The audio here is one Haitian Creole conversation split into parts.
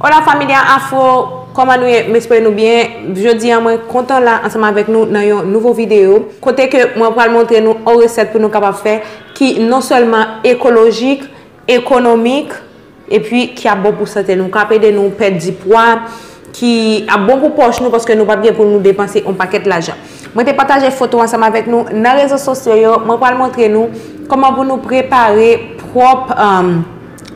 Hola familia afro Kòman nou ye m espere nou byen Jodi an mwen kontan la ansanm avèk nou nan yon nouvo videyo kote ke mwen pral montre nou on resèt pou nou kapab fè ki non sèlman ekolojik, ekonomik epi ki ap bon pou sante nou kap ede nou pèdi pwa ki ap bon pou pòch nou paske nou pap gen pou nou depanse on pakèt lajan mwen te pataje foto ansanm avèk nou nan rezo sosyo yo mwen pral montre nou kòman pou nou prepare pwòp.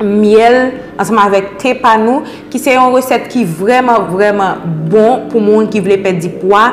myèl ansanm avèk te pa nou ki se yon resèt ki vrèman vrèman bon pou moun ki vle pèdi pwa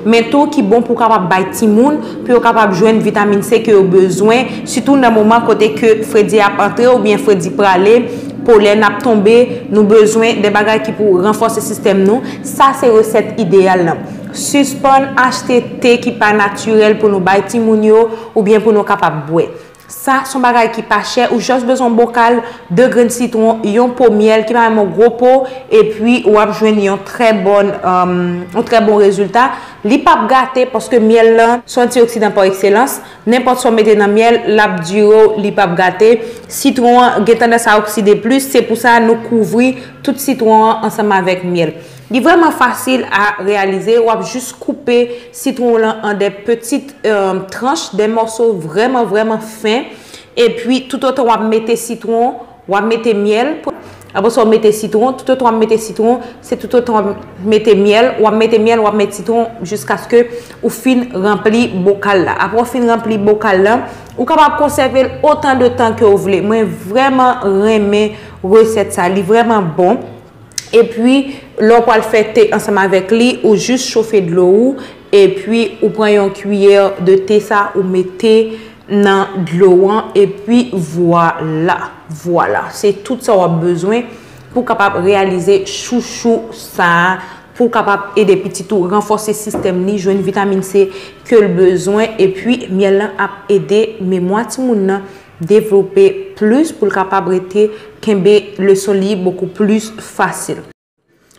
men tou ki bon pou kapab bay timoun pou yo kapab jwenn vitamin se ke yo bezwen sitou nan moman kote ke fredi ap antre ou byen fredi prale polèn ap tonbe nou bezwen de bagay ki pou ranfòse sistèm nou sa se resèt ideyal nan sispann achte te ki pa natirèl pou nou bay timoun yo ou byen pou nou kapab bwè. Sa son bagay ki pa chè, ou just bezwen yon bokal, 2 grenn sitron, yon po myèl ki pa menm yon gwo po epi wap jwenn yon trè bon yon trè bon rezilta, li pap gate paske myèl lan son antioksidan pa ekselans, nenpòt sa w mete nan myèl lap dire w li pap gate, sitron an gen tandans a okside plis se pou sa nou kouvri tout sitron an ansanm avèk myèl. Li vreman fasil a reyalize, wap jis koupe sitwon w lan an de petit tranch, de mòso vreman vreman fen, epi tout otan wap mete sitwon, wap mete myèl, apre sa w mete sitwon, tout otan wap mete sitwon, se tout otan wap mete myèl, wap mete myèl, wap mete sitwon jiskaske ou fin ranpli bokal la. Apre w fin ranpli bokal lan, ou kapab konsève l otan de tan ke w vle. Mwen vreman renmen resèt sa, li vreman bon. epi lè w pral fè te ansanm avèk li ou jis chofe dlo ou epi ou pran yon kiyè de te sa ou mete nan dlo an epi vwala vwala se tout sa wap bezwen pou kapab reyalize chouchou sa pou kapab ede pitit ou ranfòse sistèm li jwenn vitamin se ke l bezwen epi myèl lan ap ede memwa timoun nan devlope plis pou l kapab rete kenbe leson li bokou plis fasil.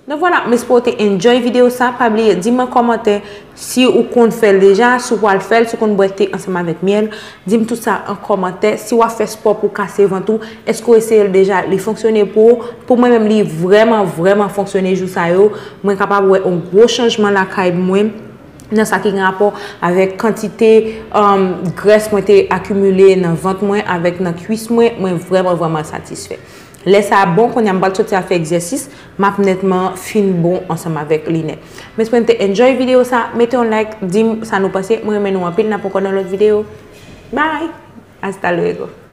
Donk vwala, m espere w te enjoy videyo sa, pa bliye di m an kòmantè si ou konn fè l deja, si w pral fè l, si w konn bwè te ansanm avèk myèl, di m tout sa an kòmantè, si w ap fè spò pou w kase vant ou, èske w eseye l deja, li fonksyone pou ou, pou mwen menm li vrèman vrèman fonksyone jou sa yo, mwen kapab wè yon gwo chanjman lakay mwen. nan sa ki gen rapò avèk kantite grès mwen te akimile nan vant mwen avèk nan kwis mwen, mwen vrèman vrèman satisfè. Lè sa bon, kounye a m pral soti al fè egzèsis, m ap nètman fin bon ansanm avèk linè. Mwen espere nou te enjoy videyo sa, mete yon like, di m sa nou panse, mwen renmen nou anpil, n ap ankò nan lòt videyo. Bye! Hasta luego!